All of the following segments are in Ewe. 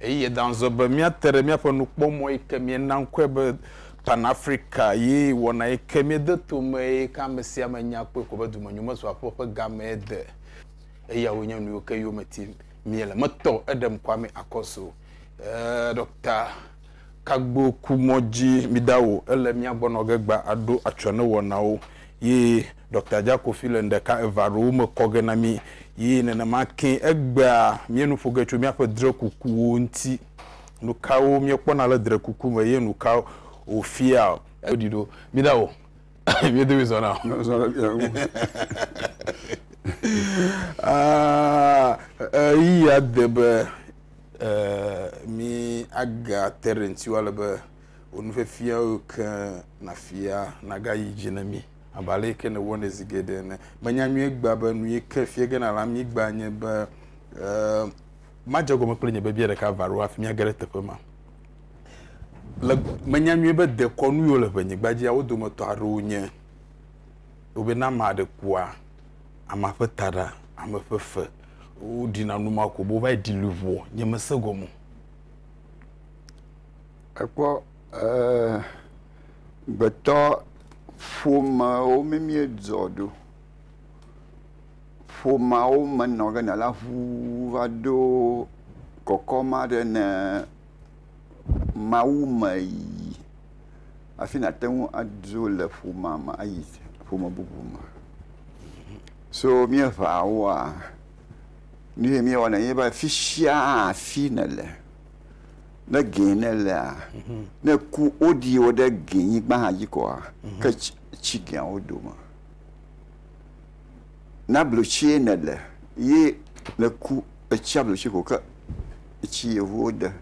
Eye Dan zɔ be, Míate ɖe míaƒe nukpɔmɔ yi ke míena ŋkɔe be Pan-Afrika ye wɔna yi ke míede to me eye yi ke ame sia ame nya kpɔe ko be dumenyomesuaƒe ƒe gamee de. Eyawoe nye nuyiwo ke yome tim míele. Metɔ eɖem Kwame Akoso, ɛɛ, Ɖɔkta Kagbo ku mɔ dzi midawo. Ele mía gbɔ nɔ ge gbã aɖo atsyɔ̃ ne wɔnawo ye Doctor Jakofi le ŋɖeka eve aɖewo me kɔ ge na mí yi nenema ke egbea míe nu ƒo ge tso míaƒe drekukuwo ŋuti. Nukawo míekpɔna le drekuku me ye nukawo wòfia? Woɖi ɖo. Miɖa wò. Mía dome zɔna o. Zɔ ɖe mía ŋu. Ɣeyiɣia de be míaga te ɖe ŋutiwo ale be wò nufiafia yiwo ke nàfia nagayi dzi na mí. Abe ale ke nèwɔnɛ zi geɖe ene. Menya nyuie egbea be nu yi ke fia ge nale amyigba nye be, eh, madze egɔme kple nye biabia ɖeka va ɖo hafi míage ɖe teƒe ma. Le, menya nyuie be dekɔnu yiwo le ʋenyigba dzia, wo dometɔ aɖewo nye, wo be ne ame aɖe kua, amea ƒe taɖa, ame ƒe fe, wo ɖina nu ma ko be wova yi ɖi luʋɔ. Nye mese egɔme o. Ekpɔ. Eeee, gbetɔ ƒomeawo mi míedzɔ ɖo. Ƒomeawo me nɔ ge nɔ la ŋuu va ɖo kɔkɔ ma ɖe ne Mawu me yi hafi nàte ŋu adzo le ƒomea me ayi ƒome bubu me. So míeŋea woa, nu ye míewɔna enye be fisia afi nèle. Ne gɛ ne lea, mhm. ne ku woɖi wo ɖe gɛ nyigba hã dzi kɔa, mhm. ke tsi gɛa wo dome. Na blotsie ne le, ye ne ku etsia blotsi ko ke etsi yevuwo de.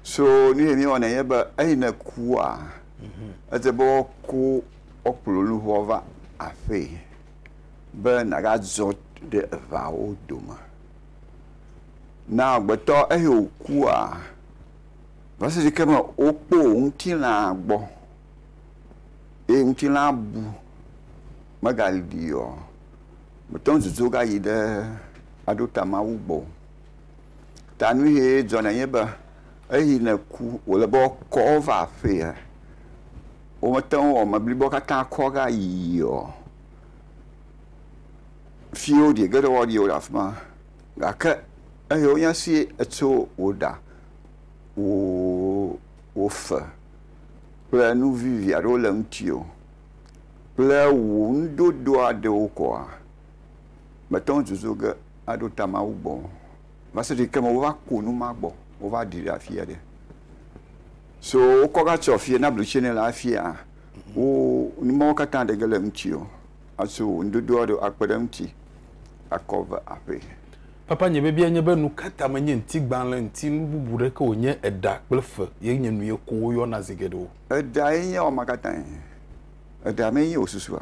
So nu yɛ mi wɔna yɛ be eyi ne kua, mhm. ete be wɔku wɔkplɔ luʋɔ va aƒee be nagadzɔ ɖe evawo dome. Ne amegbetɔ eyi wòkua, va se ɖe yi ke me wokpɔ ŋutilã gbɔ eye ŋutilã bu megaɖi o, mète ŋu dzodzo va yi ɖe aɖo ta Mawu gbɔ o. Ta nu ye dzɔna enye be, eyi ne eku wòle be woakɔ wo va aƒea, womete ŋu wɔ ame blibowo katã kɔ va yiyia o. Fiwo ɖi geɖe wo ɖiwo le afi ma gake eye wo nya si etso wo ɖa wo fe kple nu vivi aɖewo le ŋuti o kple wò nudodo aɖewo koa mete ŋu dzodzo ge aɖo ta Mawu gbɔ o va se ɖe yi ke me wova ku nu ma gbɔ wova ɖi ɖe afia ɖe. So wokɔ va tsɔ fie na blutsi ne le afia wo nu mawo katã ɖe ge le ŋuti o. Asu ŋuɖoɖoa ɖo akpe ɖe eŋuti akɔ ve aƒee. Papa, nye biabia nye be nukata menye ŋtigbalẽ ŋti nu bubu ɖe ke wònye eɖa kple fe ye nye nuye ko woyɔna zi geɖe o. Eɖae nye wama katãe. Eɖa mee nye wò susua.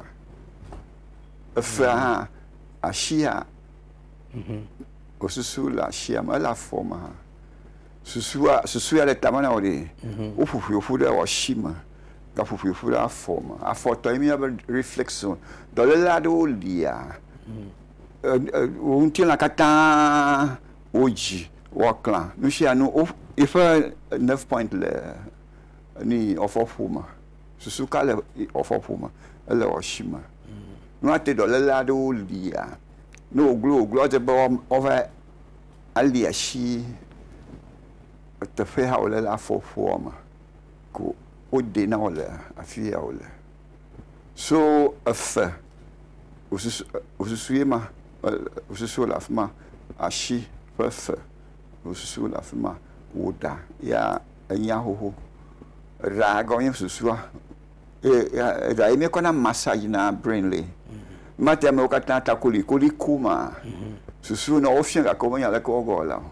Efea hã, ashia, wò susu le ashia me, ele afɔ me hã. Susua, susua le tame na wò ɖee. Woƒoƒoe ƒu ɖe wò ashi me. gaƒoƒoeƒu ɖe afɔ me. Afɔ tɔ ye míeyɔna be reflection. Dɔléle aɖewo lia wò ŋutilã katã wodzi woaklã. Nusianu yiƒe nerve point le nui afɔƒo me. Susu ka le afɔƒo me? Ele asi me. Nua te dɔléle aɖewo lia, ne woglo woglo edze be woava ali asi teƒe ya wole la afɔƒoa me. ko wode na wò le afi ya wòle. So efe wòsusu wòsusu ye ma wòsusu wòle afi ma, asi ƒe efe wòsusu wòle afi ma, wò ɖa ya enye ahoho. Eɖa gɔme enye susua eye ya eɖa ye míekɔ na massage na brain lae. Mate amewo katã ta koli koliko maa susu na wofiã gake womenya aleke woawɔ la o.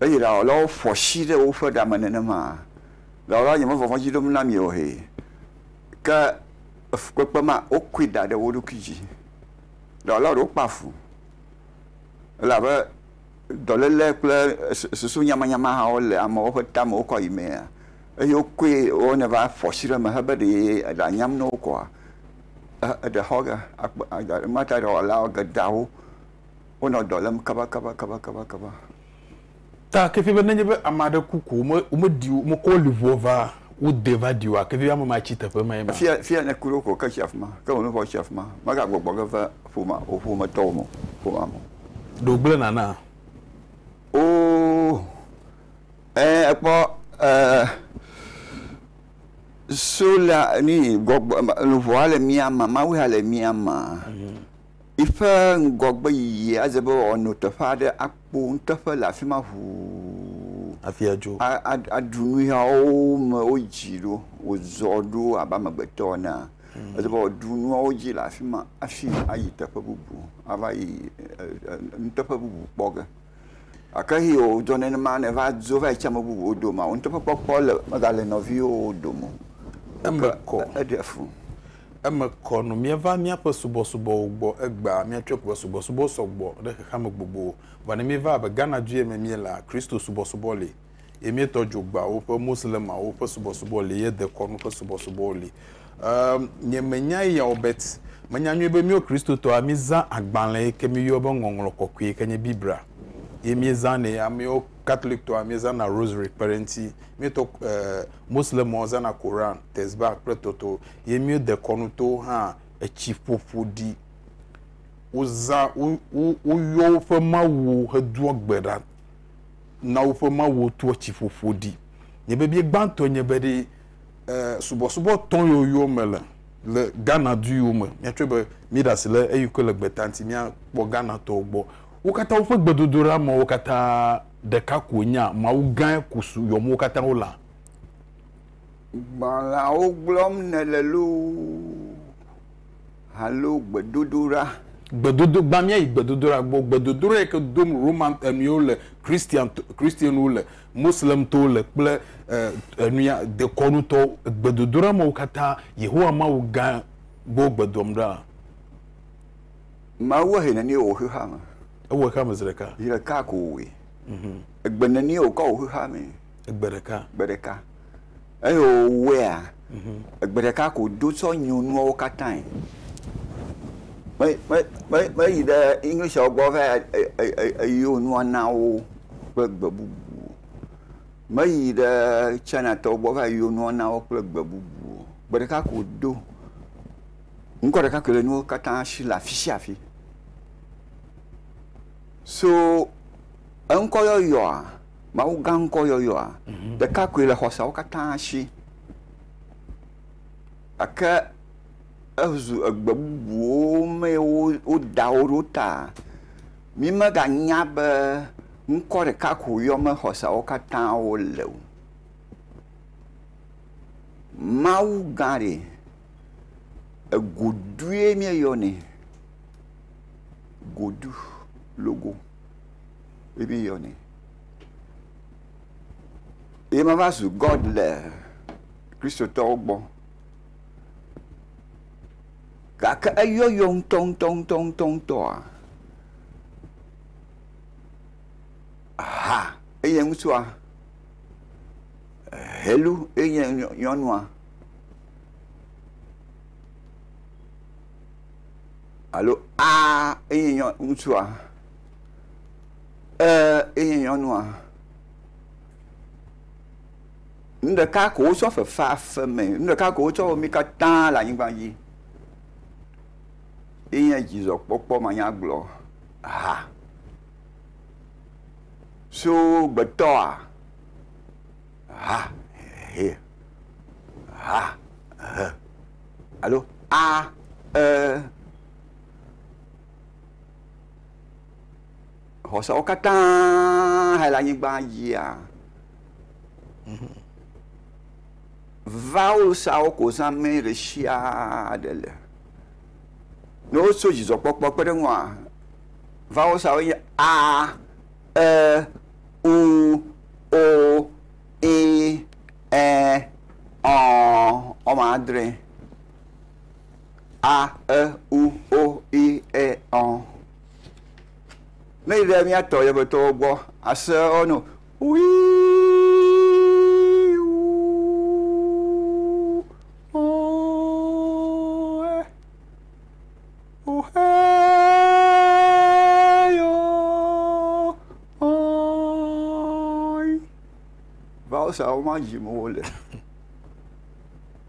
Eye ɖawɔlawo ƒo asi ɖe woƒe ɖa me nenema. Ɖawɔlawo nye mevɔvɔ̃ dzi ɖom na mi o he. Ke le fukpekpe mea, wokui da ɖe wo ɖokui dzi. Ɖawɔla ɖewo kpea fu elabe dɔléle kple susu nyamanyama hã wole amewo ƒe ta me wokɔ yi mea eye wokɔe wonɛ va ƒo asi ɖe eme hebe ɖe eɖa nyam na wo koa, eɖe xɔ ge. Akpɔ, emata ɖawɔla geɖeawo. wonɔ dɔ lém kabakabakabakaba. Ta ke fie be nenye be ame aɖe ku ko wome womeɖi wo womekɔ wo liʋoa va wodee va ɖi oa, ke fie be ame ma tsi teƒe mae ma? Fia fia ne ku ɖe wo ko ke tsi afi ma ke wò luʋɔ tsi afi ma megagbɔgbɔ ge va ƒomea wò ƒometɔwo me o ƒomea me o. Ɖe wogblẽ nana? Oo e ekpɔ e sola nui gbɔgbɔ luʋɔa le mía me Mawuea le mía mea. Eƒe ŋgɔgbeyiyi aze be wòano teƒe aɖe akpo nuteƒe le afi ma ʋuu. Hafi adzo. A, a, aɖu nu ya wome wodzi ɖo wòzɔ ɖo abe amegbetɔ enea, mm. eze be wòaɖu nuawo dzi le afi ma hafi ayi teƒe bubu, ava yi nuteƒe bubu kpɔ ge. Gake eye wòdzɔ nenema ne va dzo va yi tsi ame bubuwo dome, nuteƒekpɔkpɔ le, megale nɔviwo dome o. Eme kɔ. Eɖe fu. Eme kɔ nu míava míaƒe subɔsubɔwo gbɔ egbea míatsɔ eƒe subɔsubɔwo sɔ gbɔ ɖe xexeame gbogbo vɔ ne míeva abe Ghana du ye me míelea Kristo subɔsubɔ li ye míetɔ dzo gbawo ƒe Moslemawo ƒe subɔsubɔ li ye dekɔnu ƒe subɔsubɔwo li eem nye me nya eya o bet me nya nyuie be míwo Kristotɔa mí zã agbalẽ yi ke mí yɔ be ŋɔŋlɔ kɔkɔe yi ke nye Biblia ye mí zã nɛ amewo Catholic tɔa mí zã na Rosary kpe ɖe ŋuti mí tɔ eee Moslemawo zã na Koran, Tesbah kple toto. ye míwo dekɔnu towo hã etsi ƒo ƒo ɖi. Wozã, wo, wo, woyɔ woƒe mawuwo hedoa gbe ɖa na woƒe mawuwo toa etsi ƒo ƒo ɖi. Nye bebie gbãtɔe nye be ɖe e, subɔsubɔ tɔ yɔyɔ me le le Ghana du yiwo me. Míatsɔe be míeɖe asi le eyi ke le gbeta ŋuti míakpɔ Ghanatɔwo gbɔ. Wo katã woƒe gbedodoɖa mewo katã ɖeka koe nye a, Mawu gãe ko su yɔm wo katã wolea? Gbalẽawo gblɔm nèle loo alo gbedodoɖa? Gbedodo, gbã míayi gbedodoɖa gbɔ. Gbedodoɖa yi ke dom Roman enuiwo le, Christian, Christianwo le, Moslemtɔwo le kple enuya dekɔnutɔwo. Gbedodoɖa mawo katã Yehowa Mawu gã gbɔ wogbedoam ɖa. Mawu ehe nenie wò xexea me? Ewɔe xexea me zi ɖeka. Zi ɖeka ko wòwɔe. Egbe nenie wòkɔ wò xexea mee? Egbe ɖeka. Gbe ɖeka. Eye wòwɔea, mhm. egbe ɖeka ko do tsɔ nyo nuawo katãe. Meyi ɖe Englishwo gbɔ va eyo nua na wo kple gbe bubu. Meyi ɖe Chinatɔwo gbɔ va eyo nua na wo kple gbe bubu. Gbe ɖeka ko do. Ŋkɔ ɖeka koe le nuwo katã si le afi sia afi. So eŋkɔ yɔyɔa, Mawu gã ŋkɔyɔyɔa, mhm. ɖeka koe le xɔseawo katã si. Gake ezu egbe bubuwo mee woda wo ɖo ta. Mi meganya be ŋkɔ ɖeka ko yɔm xɔseawo katã wole o. Mawu gã ɖe, egodue míeyɔnɛ. Godu logo. bibi yɔ ni. Ye ma va zu God le Kristotɔwo gbɔ. Gake eyɔyɔ ŋutɔŋutɔŋutɔŋutɔa, ha eye ŋutsua, helu eye nyɔnua, alo aa eye ŋutsua. Ee enye nyɔnua. Nu ɖeka ko wotsɔ fefe aƒe me. Nu ɖeka ko wotsɔ wɔ mí katã le anyigba dzi. Enye dzidzɔkpɔkpɔ manyagblɔ ha. So gbetɔa ha he ha he alo a e. xɔseawo katã he le anyigba yia. Vawulsawo ko zãme ɖe sia ɖe le. Ne wotso dzidzɔkpɔkpɔ kpe ɖe ŋua, vawulsawo nye a, e, u, o, i, ɛ, ɔ, wɔme adre. a, e, u, o, i, e, ɔ. Ne yi ɖe míatɔ yevetɔwo gbɔ ase wo no wi Vawusawo ma dzim wole.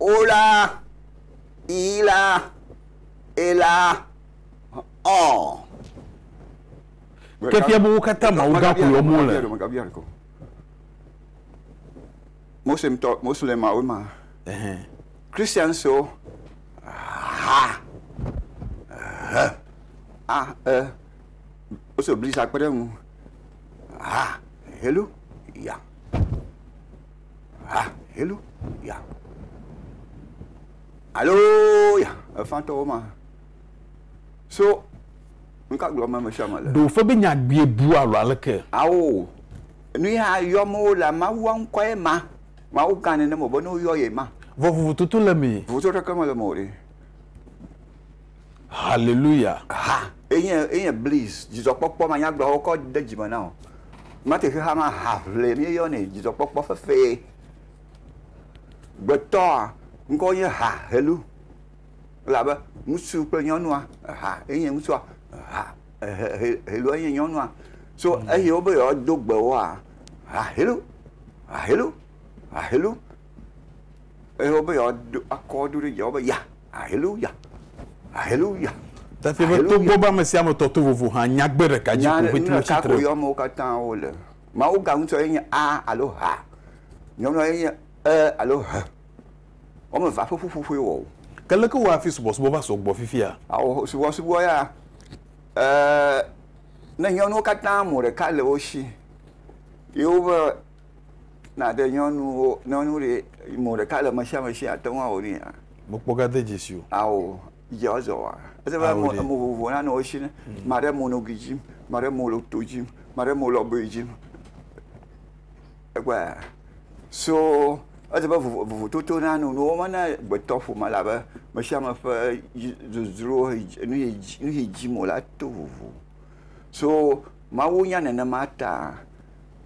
Ola, Ila, Ela, Ɔɔ. Ke fia be wo katã Mawu gã koe wɔm wole. Muslim tɔ, Muslim awo ma. Christians wo, ha, he, a, e. Woso blisa kpe ɖe ŋu. Ha, helu, ya. Hallelu ya. Alo ya efantɔwo ma. So nka gblɔ me sia me le. Ɖo fe be nya gbie bu alo aleke? Ao. Nu ya yɔ me wo le Mawu ŋkɔ ye ma. Mawu gan ne ne mo be ne wo yɔ ye ma. Vɔ vovototo le me. Vovototo ɖeke me le me o ɖe. Haleluya! Ha, enye, enye bliss, dzidzɔkpɔkpɔ manyagblɔawo kɔ de dzi me na wò. Mate xexea me ha ʋlee míeyɔnɛ, dzidzɔkpɔkpɔ fefee. Gbetɔa ŋkɔ nye ha, helu. Elabe ŋutsu kple nyɔnua, ha, enye ŋutsua, ha, ehe, he, helua enye nyɔnua. So mm. eye wobe yewoado gbe woa, ha, helu, ha, helu, ha, helu. Eye wobe yewoado akɔ do ɖe dzi, wobe ya. Haleluya! Haleluya! Tati be togbɔ be ame sia ame tɔ to vovo hã, nyagbe ɖeka dzi ko ƒete wotsi tre. Nya ɖeka amewo katã wole. Mawu ga ŋutɔ ye nye A alo H. Nyɔnua ye nye E alo H. Woame evea ƒe ƒuƒoƒoe wɔ wò. Ke leke wɔ hafi subɔsubɔ va sɔ gbɔ fifia? Ao subɔsubɔ ya, e, ne nyɔnuwo katã mo ɖeka le wo si ye woƒe Nàɖe nyɔnuwo, nyɔnu ɖe, mo ɖeka le mesiame si ate ŋu awɔ nuya? Mekpɔ gade dzesi o. Ao, dze ɔzɔ wa. Ese be mo, mo vovo nane wo si ne. Maɖe mo no gi dzi, maɖe mo lo to dzi, maɖe mo lɔ boe dzi. Ekpɔe a? So ese be vovo, vovo toto na nu nuwo me ne gbetɔ ƒome la be mesiame ƒe dzi dzodzro he dzi, nu he dzi, nu he dzi mo la to vovo. So Mawu nya nenema ta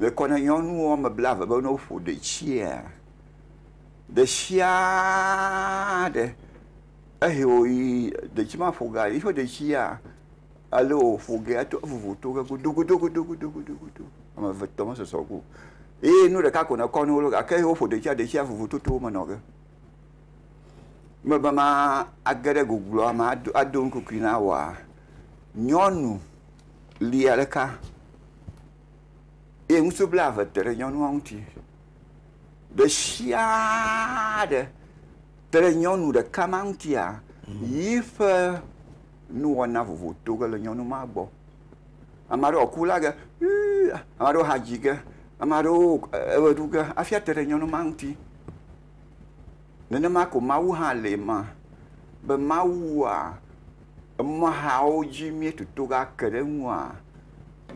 Le kɔ na nyɔnu woame blaeve be ne woƒo ɖetsia, ɖe sia ɖe ehe wòyi detsi ma ƒo ge, yiƒe detsia, ale wòƒo ge ato evuvu to ge godogodogodogodogodo, ame eve tɔ mesɔsɔ go o. Eye nu ɖeka ko nèkɔ na wo ɖo gake ehe woƒo ɖetsia, detsia vuvu toto me nɔ ge. Mebe mage ɖe gogloa me ado ado nukukui na woa, nyɔnu lia ɖeka. eye ŋutsu blaeve te ɖe nyɔnua ŋuti. Ɖe sia ɖe te ɖe nyɔnu ɖeka ma ŋutia yiƒe nuwɔna vovoto ge le nyɔnu ma gbɔ. Ame aɖewo ku la ge, ame aɖewo hã dzi ge, ame aɖewo eʋe ɖu ge hafi ate ɖe nyɔnu ma ŋuti. Nenema ko Mawu hã le ema be Mawua emɔ̃hawo dzi míetoto ake ɖe eŋua,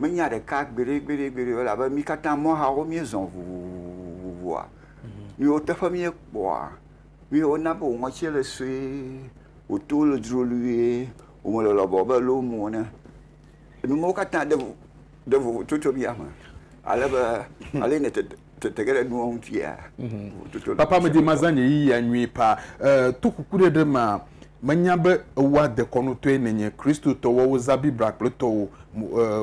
Menya ɖeka gbeɖegbeɖegbeɖe elabe mí katã mɔhawo míezɔ vovovoa, míwo teƒe míekpɔa, míwo wona be wò ŋɔtsie le sue, wò to le dzrolue, wò me le lɔbɔ abe loo mu ene. Enu mawo katã ɖe vovo ɖe vovo tso tso mía me ale be ale nètete. Tete ge ɖe nuwo ŋutia. Mhm. Papa medi mazã nye yiyia nyuie pa. To kuku ɖe ɖe ma menya be ewoa dekɔnutɔe nenye Kristotɔ woawo zã Biblia kple tɔwo,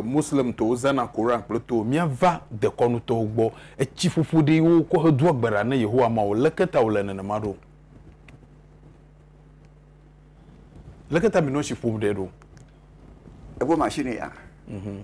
Moslem tɔwo zãna Koran kple tɔwo. Miava dekɔnu tɔwo gbɔ. Etsi ƒoƒo ɖee wo kɔ he doa gbe ɖa ne Yehowa Mawu. Leke ta wo le nenema ɖo? Leke ta mi nɔ tsi ƒom ɖe ɖo? Evo machine ya. Mhm.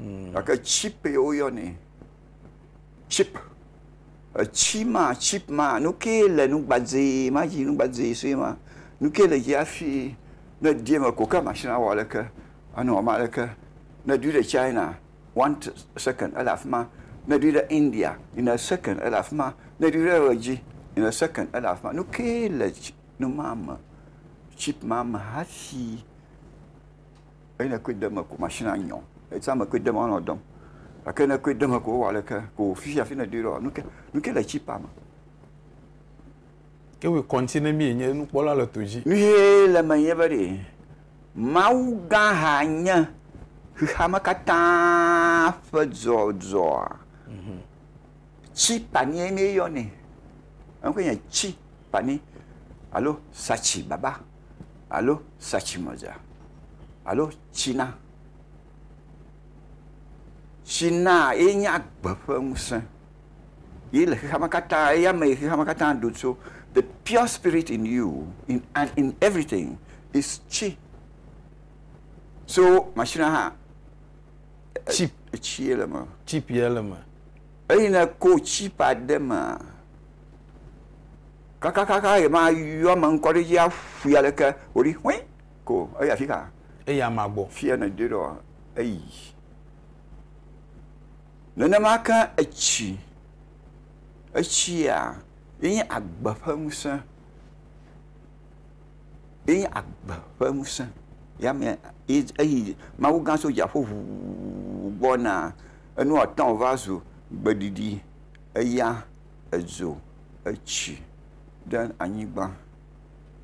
mm. gake chip ye woyɔnɛ chip etsi ma chip ma nu ke le nu gbadzɛ ma dzi nu gbadzɛ sue ma nu ke le dzi hafi ne di eme ko ke machine awɔ aleke anɔ wɔm aleke ne dui ɖe china one second ele afi ma ne dui ɖe india in a second ele afi ma ne dui ɖe ʋe dzi in a second ele afi ma nu ke le nu ma me chip ma me hafi Eyi ne koe deme ko machine a nyɔ. Etsã me koe deme anɔ dɔm. Gake ne koe deme ko wowɔ aleke ko fifia afi nèɖoe ɖoa, nu ke nu ke le chip a me. Ke wòe kɔŋtsi ne mí enye nukpɔla le to dzi. Nu ʋɛ le eme nye be ɖe Mawu gã ha nye xexea me katã ƒe dzɔdzɔa? Chip a ni ye mí yɔ nɛ. Eŋkɔe nye chip a ni alo satsi baba. alo satsimedza alo tsina. Tsinaa ye nye agbe ƒe ŋusẽ. Ye le xexeame katã, eya me yi xexeame katã ɖo tso. The pure spirit in you in and in everything is tsi. So mashinia hã chip tsi ye le eme. Chip ye le eme. Eyi ne ko chip aɖe mea. Kakakaka ɣe ma yɔ ame ŋkɔ ɖe dzi aƒui aleke wòɖi hui ko eyi afika. Eyi amea gbɔ. Fia ne doi ɖɔ eyi. Nenema ke etsi, etsia ye nye agbe ƒe ŋusẽ, ye nye agbe ƒe ŋusẽ ya me ye eyi Mawu gã tso dziaƒo ʋuu gbɔna. Enua tɔ̃ va zu gbeɖiɖi eya. edzo etsi ɖe anyigba.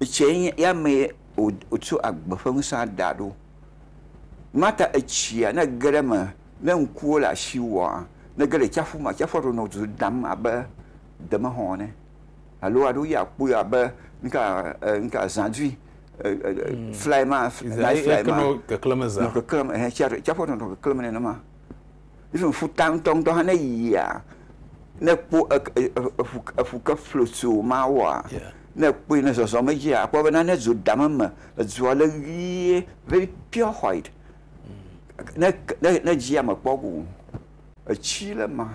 Etsie nye ya mee wo wotsɔ agbe ƒe ŋusea da ɖo. Mata etsia ne ege ɖe eme ne ŋkuwo le asi wòa nege ɖe tsaƒu me tsaƒua ɖo nɔ dodam abe demexɔ ene alo aɖo ya akpɔe abe ŋka e ŋka zãdui e e e fly ma fly ma nɔ keklem hẽ tsia tsaƒua ɖo nɔ keklem nenema. Even ƒuta ŋutɔŋutɔ hã ne yia, ne ekpɔ eƒu eƒu ke flo tso mawoa, ne ekpɔe ne zɔzɔm edzia, akpɔ be nane dzo dam eme. Edzoa le ʋie very pure white. Ne ne ne edzia mekpɔ o. Etsi le ema.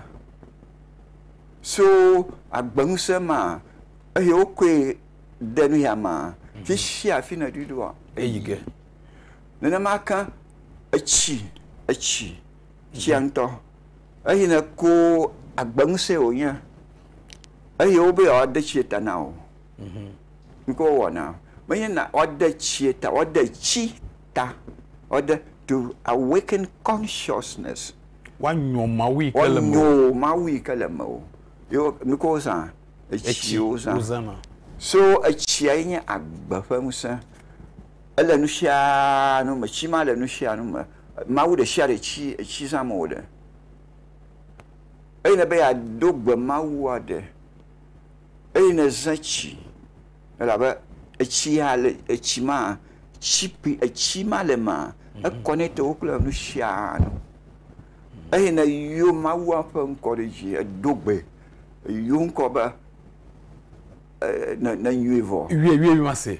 So agbeŋusẽ ma eye wokɔe de nuya mea, fisiafi nèɖoe ɖoa, eyi ge. Nenema ke etsi, etsi, etsia ŋutɔ, eyi ne ko agbe ŋusẽ wònye, eye wobe yewoade tsie ta na wò. Mhm. Nu ke wowɔna, menye na woade tsie ta, woade tsi ta, woade to awaken consciousness. Woanyo Mawu yi ke le mewò. Woanyo Mawu yi ke le mewò. Ye wo, nu ke wozã, etsi Etsi wozã. wozãna. So etsia ye nye agbe ƒe ŋusẽ. Ele nusianu me tsi ma le nusianu me mawu ɖesiaɖe tsi etsi zam wole eyi nebe yeado gbe mawua ɖe eyi ne ze tsi elabe etsi ya le etsi ma tsi kpli etsi ma le ma ekɔ ne tɔwo kple nusianu eyi ne yɔ mawua ƒe ŋkɔ ɖe dzi edo gbe yɔ ŋkɔ be e ne ne nyuie vɔ. Wie wie wie ma se.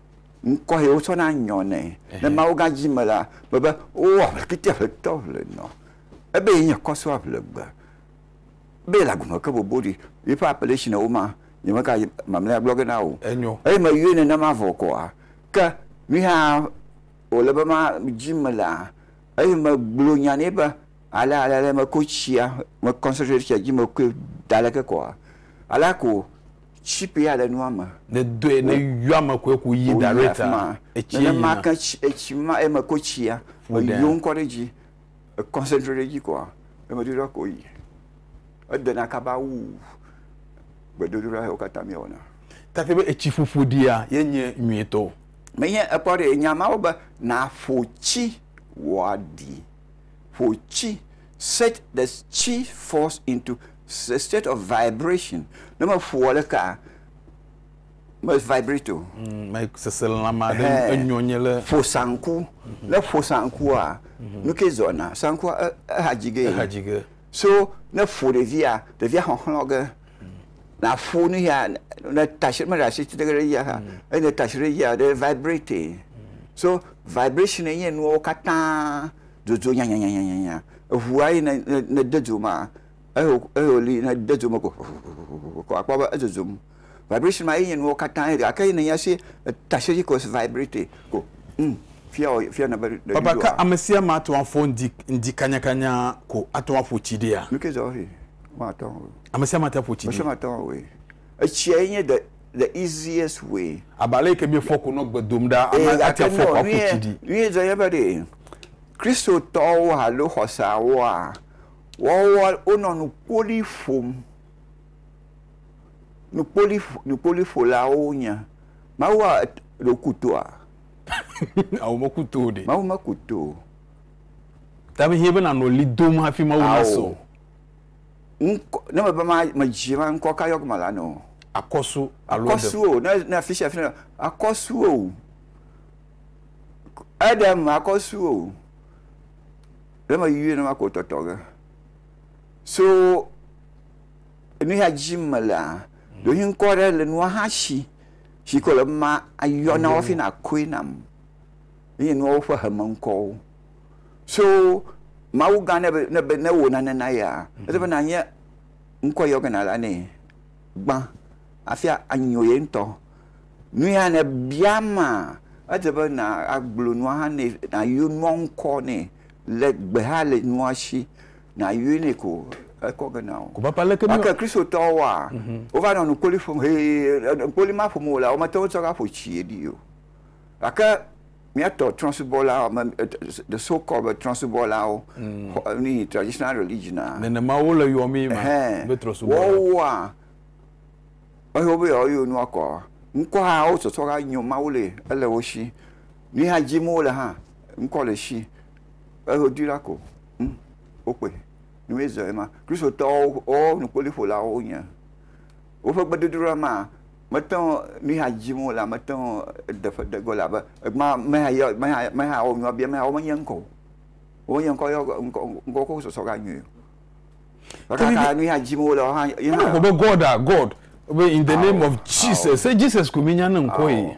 Ŋkɔ ye wotsɔ na nyɔ nɛ le mawuga dzi me la, gblɔ be, O aʋlekiti aʋletɔ ʋlenɔ, ebe ye nye kɔso aʋlegbe, ebe yele agbenɔ ke bobo ɖi, yeƒe aƒe ɖe si nèwo ma, nyemeka mamlɛa gblɔ ge na wò o, eye meyɔe nenema vɔ koa? Ke nui hã wòle be ma dzi me la, eye megblɔ nya nɛ be, alea alea alea meko tsia, me concentrate tsia dzi, mekoe da aleke koa? Alea ko tsipe ya le nua me. Ne dɔe ne yɔa me koe ku yi da ɖe ta etsi yina. Nenema ke etsi ma eme ko tsia eyɔ ŋkɔ ɖe dzi ekɔnsɛtre ɖe dzi koa emedodoɖa ko yi edena kaba wu gbedodoɖa yawo katã mi wɔna. Take be etsi ƒoƒo ɖia ye nye nyuitɔ. Menye ekpɔ ɖe nya mawo be naƒo tsi wɔa ɖi. ƒo tsi, set the tsi force into a state of vibration, ne meƒoa ɖekaa, me vibrate o. Mm, me seselãme aɖe Ɛhɛɛ. enyɔ nye le Ƒo sanku, ne ƒo sankua, nu ke zɔna? Sankua e- ehadzi gee. ehadzi ge. So ne ƒo ɖevia, ɖevia xɔxlɔ ge, na ƒo nu ya, ne tashi me ɖe asi tsi ɖe ɖe yia ha, eye ne tashi ɖe yia, ɖe vibrate. So vibration enye nuwo katã dzodzo nyanyanyanyanya. Eʋua yi ne de dzo ma, eyo eyo li ne de dzo me ko vovovovovo ko akpɔ be edzodzom. Vibration ma ye nye nuwo katã ye ɖe. Gake ye nènya se taxi ko si vibrate ko. Hm, fia wɔ, fia nèbe ɖe Baba, ɖoɖoa. ke ame sia ame ate ŋu afɔ ŋdi, ŋdi kanyakanya ko ate ŋu aƒo tsi ɖea? Nu ke zɔ ɔ he, woate ŋu awɔe. Ame sia ame ate ŋu aƒo tsi Ame sia ɖea? ame ate ŋu awɔe. Etsia ye nye the, the easiest way. Abe ale yi ke míefɔ ko nɔ gbe dom ɖa, ame Ee, ate gake afɔ nɔ ko aƒo tsi ɖi. nuye, nuye zɔ nye be ɖe Kristotɔwo alo xɔseawoa, woawoa, wonɔ nuƒoɖi ƒom. nukpoliƒolawo wonye. Mawu a ɖe woku toa? Ao, meku to o ɖe. Mawu meku to o. Ta me hiã be nanɔ ɣli dom hafi Mawu nasɔ o. Ŋkɔ, ne mebe ma, medzi ma, ŋkɔ ka yɔge malanɔ o? Akɔsu alo eɖem. Akɔsu o, ne, ne afisia afisia nɔ, akɔsu o. Eɖem, akɔsu o. Ɖe meyuie nenema ko wotɔtɔ ge. So enu ya dzi melea, ɖewohĩ ŋkɔ aɖe le nua hã si si ke wòle be mayɔ na wo hafi nàkɔe nam. Enye nuawo ƒe hemeŋkɔwo. So Mawugã ne be, ne be, ne wò nane na yea, ele be nànye ŋkɔ yɔ gena la nɛ gbã hafi anyo ye ŋutɔ. Nu ya ne bia ma, edze be na agblɔ nua hã nɛ, nayo nua ŋkɔ nɛ le gbe hã le nua si. Nàyɔe nɛ ko ekɔ ge na wò. Ko papa leke mi. Gake Kristotɔwo wa, mhm. wova nɔ nukpoli ƒom hee, nukpoli ma ƒom wòlea, womete ŋu tsɔ va ƒo tsi ɖi o. Gake míatɔ trɔ̃subɔla the so called be trɔ̃subɔlawo mm. ni traditional religion a. Nenema wo le yɔ mi ma be trɔ̃subɔla. Wɔwɔa ehe wobe yewoa yɔ nua kɔ. Ŋkɔ hã wo sɔsɔ hã nyo Mawu le ele wo si. Ni hã dzim wo le hã ŋkɔ le si. Ehe dui la ko. Ŋ, wokpɔe. Ne míawo zɔ ema, Kristotɔwo woƒe nukpɔliƒolawo wonye. Woƒe gbedodoɖa maa, mete ŋu, nuya dim wole, mete ŋu de ƒe de ge o, elabe ekema meya yɔ, meya, meya wɔ nua bia, meya wome nye ŋkɔ o. Wome nye ŋkɔ yɔ ge, ŋkɔ, ŋkɔ ko sɔsɔ ga nyui o. Ekaka nuya dim wole hã, ye hã. Wogblɔ be God a, God, be in the name of Jesus. Se Jesus koe míenya ne ŋkɔ ye.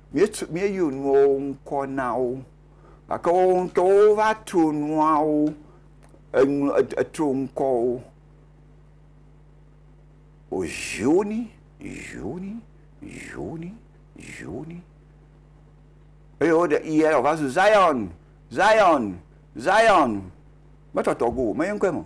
Míetu, míeyɔ nuawo ŋkɔ na wo, gake woawo ŋutɔwo wova to nuawo eŋl, eto ŋkɔwo o. Zioni, Zioni, Zioni, Zioni. Eye woɖe i aɖe wòva zu Zion, Zion, Zion. Metɔtɔ go o, menye ŋkɔe me o.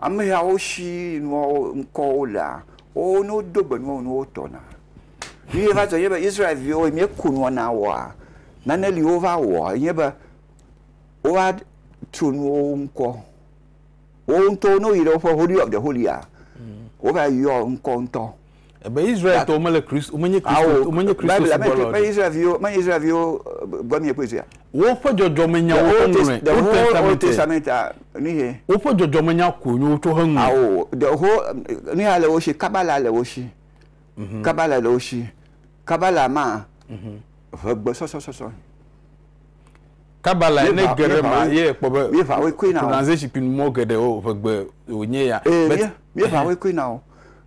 Amehawo si nua ŋkɔwo lea, wowo ne wodo gbe nua wo ne wotɔna. Nu ye va dzɔ nye be Israel-viwo yi míeku nua na woa, nane li wova wɔ yi nye be wova tso nu wowo ŋkɔ. Wowo ŋutɔwo ne woyi ɖe woƒe Holy of the Holy-a, wova yɔ ŋkɔ ŋutɔ. Ebe Israeltɔwo mele Kristo, womenye Kristo, womenye Kristo Bible me subɔlawo. me Israelviwo me Israelviwo eh, gbɔ mi ekpɔe sia. Woƒe dzɔdzɔmenyawo The Old Test- heŋlɔe. the Old whole Old Testament. Testament ah, nu ye. Woƒe dzɔdzɔmenya koe nyo wotsɔ heŋlɔe. Awo the whole um, nu ya le wo si kabala le wo si. Kabala le wo si. Kabala ma ʋe gbɔsɔsɔsɔsɔ. Kaba lae ne geɖe ma ye ekpɔ be pronunciation pin mɔ geɖe o ʋegbe wònye ya. Ee, míeʋa woe koe na o.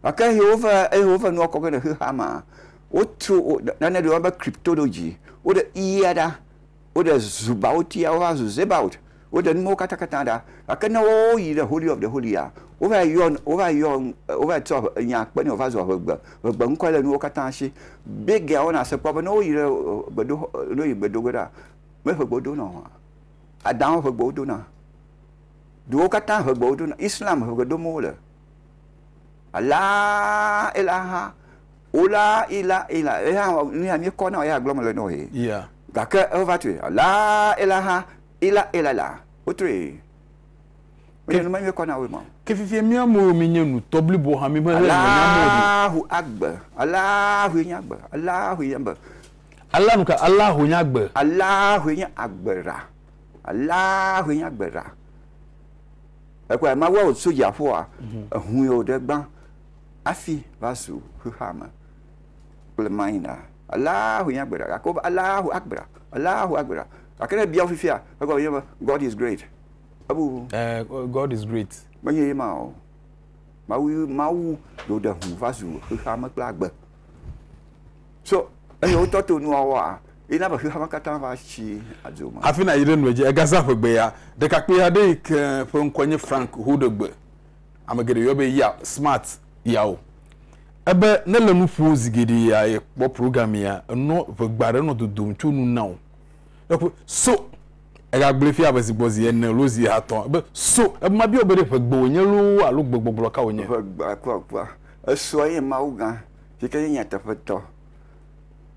Gake eye wova eye wova nua kɔ ge le xexea mea, wotso nane ɖe woyɔna be cryptology, woɖe i-a ɖa, woɖe zubaot-ia wova zu zebaot. Woɖe numawo katã katã ɖa, gake ne woyi ɖe Holy of the Holya, wova yɔ, wova yɔ, wova tsɔ nya kpe nɛ wòva zu ʋegbe, ʋegbe ŋkɔ le nuwo katã si. Bigea wona se kpɔ be ne woyi ɖe gbedoxɔ, ne woyi gbe do go ɖa, me ʋegbe wodona o. Adãwo ʋegbe wodona. Duwo katã ʋegbe wodona. Islam ʋegbe dom wole. Alaa ilaha ola ila ila. Eya nuya míekɔ na wò ya gblɔm mele na wò ye. Yeah. Gake ewova tsoe. Alaa ilaha Ila ila la wotoe menye nume nyuie kɔ na woe mɔ. Ke fifie mía moyo mi nye nu tɔ blibo hã mi ʋeʋe ŋgbe nya mɔ ɖi. Alaahu agbe Alaahue nye agbe Alaahue nye agbe. Ala nu ka Alaahue nye agbe. Alaahue nye agbe ra Alaahue nye agbe ra ekpɔe mawua wo tso dziaƒoa ehue wo ɖe gbã afi va zu xexeame kple maina. Alea hoe nye agbera, gake wobe, Alea hoe agbera, alea hoe agbera. Gake ne ebia wo fifia, egɔme enye be, God is great. Ebu. Ɛɛ, God is great. Menye ye ma o. Mawu, Mawu ɖo ɖe ŋu va zu xexeame kple agbe. So, eye wotɔ to nua wɔa, ye na be xexeame katã va tsi adzo me. Hafi nàyi ɖe nua dzi, egazã ƒegbe ya, ɖekakpui aɖe yi ke ƒe ŋkɔe nye Frank Houdegbe ame geɖe yɔ be ya smart yawo ebe ne le nu ƒo zi geɖe ya ye kpɔ program ya enɔ ʋegba ɖe nɔ dodom tso nu na o eƒe so egagblẽ fia be zigbɔ zi ene lo zi atɔ ebe so ebe ma biɔ be ɖe ʋegbe wònye lo alo gbegbɔgblɔ ka wònye ʋegba kpɔ kpɔ esoa ye mawu gã si ke nye nyateƒetɔ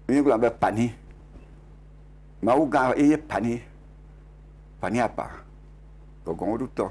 mi gblɔ be pani mawu gã ye pani pani apa gɔgɔnwodutɔ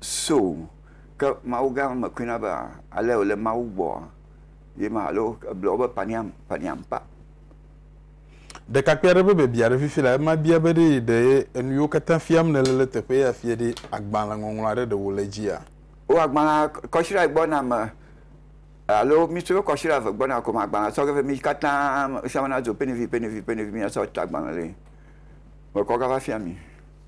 So, ke Mawu gã me koe na be ale wòle Mawu gbɔ ye ma alo ebla wo be paniam, paniam pa. Ɖekakpui aɖe ƒe biabia ɖe fifi la, ema bia be ɖee ɖe enu yiwo katã fiam nèle le teƒe ya fia ɖe agbalẽ ŋɔŋlɔ aɖe ɖe wòle edzia? O, agbalẽ kɔsiɖa gbɔna me alo mi tsɔ kɔsiɖa eve gbɔna ko me agbalẽ tsɔ ge vɛ mi katã ame sia ame nadzo pɛnivi, pɛnivi, pɛnivi mi asɔ ta agbalẽ ɖe mekɔ gava fia mi.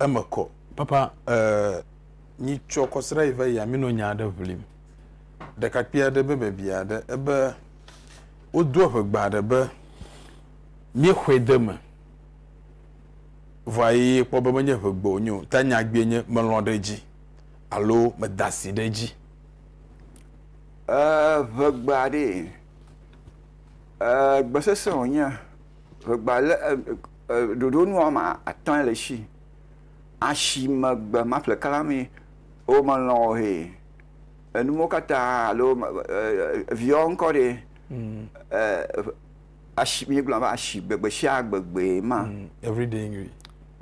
Eme kɔ. Papa, ee, nyi tsɔ kɔsra yi va yi ami nɔ nya aɖe ʋlim. Ɖekakpui aɖe be bebia aɖe ebe wodo eŋegba aɖe be míexɔe de eme. Vɔa yi kpɔ be menye ŋegbe wonye o, ta nya gbee nye melɔ̃ ɖe edzi alo meda asi ɖe edzi. Ee, ŋegba aɖee. Ee, gbe sese wonye. Ŋegba le, e, e. Ɖoɖo nu woame atɔ̃e le esi. Asi megbe ma ƒleka la mee wo me lɔ̃ o hee. Enu mo katã alo viɔ ŋkɔ ɖee. Mm. Asi mi gblɔ ba asi gbegbe sia gbegbe ma. Mm. Everyday English.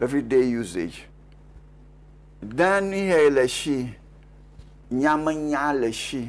Everyday usage. Dani hɛ le esi. Nyamenya le esi.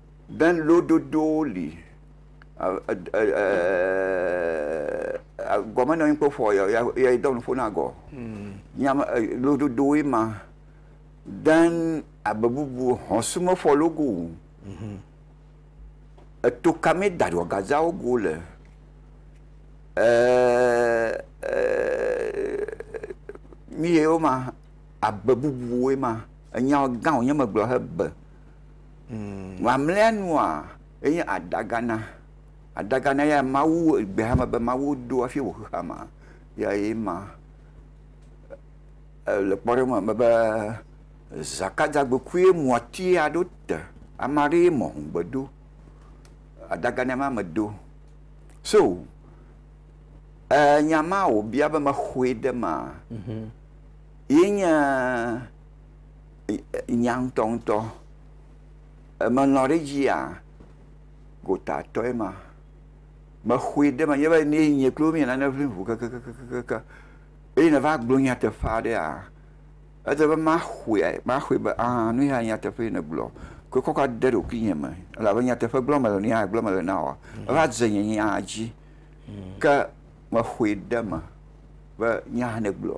Be lododowo li gɔme nɔ anyi kple ƒo ya dɔ nuƒo na gɔ. Nya me lododo woe ma. Den abe bubu hɔn sume fɔ logo wu. Eto ka me da ɖɔ gaza wo go le mi ye wo ma abe bubu woe ma. Enya gã wo nye me gblɔ he be. Mamlɛa nua, enye adagana. Adagana ya Mawu, egbe hame be Mawu do hafi wɔ xexea mea, ya ye ma. Le kpɔɖeŋu eme be, Zakadzagbekoe mu ati ya ɖo te. Ame aɖee mɔ hũ gbe do. Adagana ma me do. So, nya ma wòbia be mexɔe ɖe mea, ye nye. nya ŋutɔŋutɔ. Emelɔ̃ ɖe edzia? Gotatɔe ma. Mexɔe ɖe menye be ne nye kple wò míele nane ʋlim ŋu kekekekekekeŋ eye nèva gblɔ nyateƒe aɖea, ele be maxɔe, maxɔe be aa nu yae nye nyateƒe si nègblɔ. Koe kɔ kɔ de ɖokuinye me elabe nyateƒe gblɔm mele, nu yae gblɔm mele na wòa, eva dze nye nya dzi. Ke mexɔe ɖe eme be nya si nègblɔ.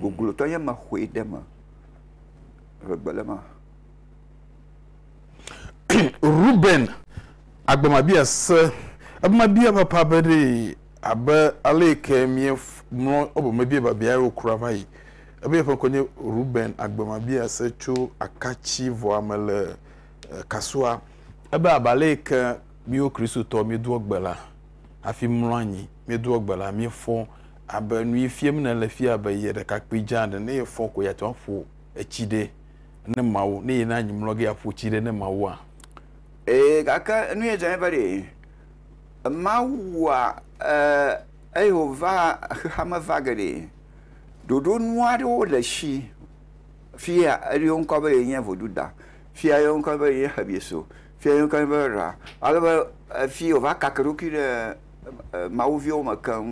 Goglotɔ ye mexɔe ɖe eme le gbe le ma. Ruben agbemabia se ebmabia papa be ɖe abe ale yi ke mie mlɔ obe mebia babia yewo kura va yi. Ebe yeƒe ŋkɔ nye Ruben agbemabia se tso akatsi vɔa me le kasua. Ebe abe ale yi ke miwo Kristotɔ miedoa gbe la hafi mlɔ anyi, miedoa gbe la miefɔ Abe nui fiem nèle fia abe ye ɖekakpui dza ene, ne yefɔ ko yeate ŋu aƒo etsi ɖe ne Mawu, ne yena anyi mlɔ ge aƒo tsi ɖe ne Mawua? Ee, gake nu ye dzɔ nɛ be ɖe Mawua e eye wòva xexeame va geɖe ɖoɖo nu aɖewo le esi fia eɖo yewo ŋkɔ be ye nye Voduda, fia eɖo yewo ŋkɔ be ye nye Xebiso, Fia nyi keŋ be Ra. Ale be efi wòva kake eɖokui ɖe mawuviwo me keŋ.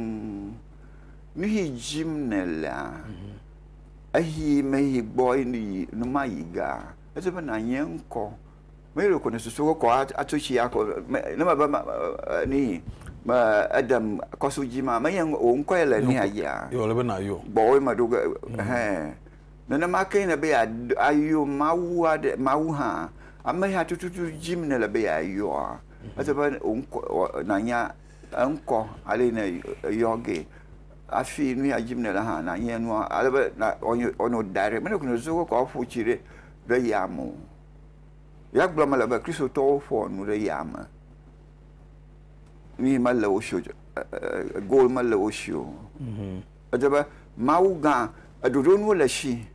Nuyi dim nèlea, eyi meyi gbɔ yi nu ma yi ga. Edi be nànye ŋkɔ. Mee ɖeko nèsusu be kɔ atso tsi akɔ ne mebe nuyi me eɖem kɔso dzi ma, menye wò ŋkɔe le nuya dzia? Yɔ le be nàyɔ. Gbɔwòe meɖo ge ɛhɛn. Nenema kee nèle be yeayɔ Mawu aɖe, Mawu hã, ameha tututu dim nèle be yeayɔa. Ese be wò ŋkɔ, wɔ- nànya eŋkɔ ale yi nèyɔ gee. Hafi nu ya dim nèle hã, nànya enua ale be na- wòanyo- wòanɔ direct. Mele gɔme sese be wokɔ aƒo tsi ɖe, ɖe ya me o. Ya gblɔm mele be Kristotɔwo ƒoa nu ɖe ya me. Nuyi mele wo si o, ɛ- ɛ- ɛ- goal mele wo si o. Edze be Mawu gã ɖoɖo nuwo le esi.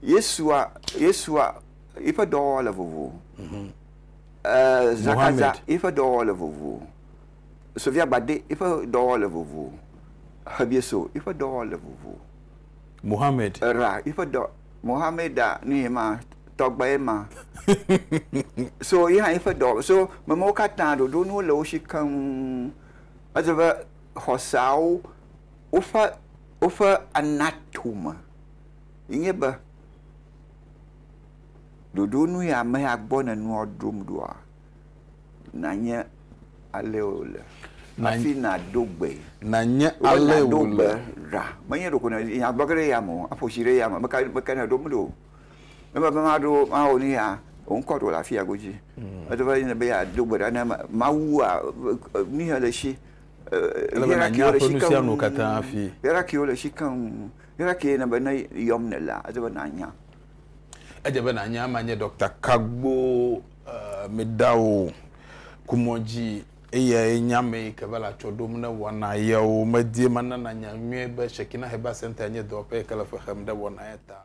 Yesua, Yesua yiƒe dɔwɔwɔ le vovo. Mhm. Eh, Zakaza yiƒe dɔwɔwɔ le vovo. Sofia Gbade yiƒe dɔwɔwɔ le vovo. Hebieso yiƒe dɔwɔwɔ le vovo. Mohammed. Ra yiƒe dɔ Mohammeda nu ye ma tɔgbe ye ma. so yi hã yiƒe dɔ so memewo katã ɖoɖo nuwo le wo si keŋ. Edze be xɔseawo woƒe, woƒe anatome ye nye be, ɖoɖo nu ya ame ya gbɔ nènɔa ɖom ɖoa, nànye alee wòle hafi nàdo gbee. Nànye alee wòle. Nàdo gbe ɖa. Menye ɖeko nènya gblɔ ge ɖe eyame o, aƒo tsi ɖe eyame, meka, meka nèɖom ɖo o. Eme be maɖo mawo ni ya wo ŋkɔ ɖo le afi ya godzi. Mm. Edo be ne be ya do gbe ɖa ne mawu a nu ya le shi. Ele be na nya ƒe nu sia nu katã afi. Yara kiwo le shi keŋ. Yara ki ne be ne yɔm ne la edo be na nya. Edze be na nya ma nye Dr. Kagbo uh, Medawo kumɔdzi eya ye nya me ke va la tsɔ ɖom ne wɔna yawo medie manana nya nyuie be Shekina Heba Center nye dɔwɔƒe ke le fe xem ɖe wɔna ya ta.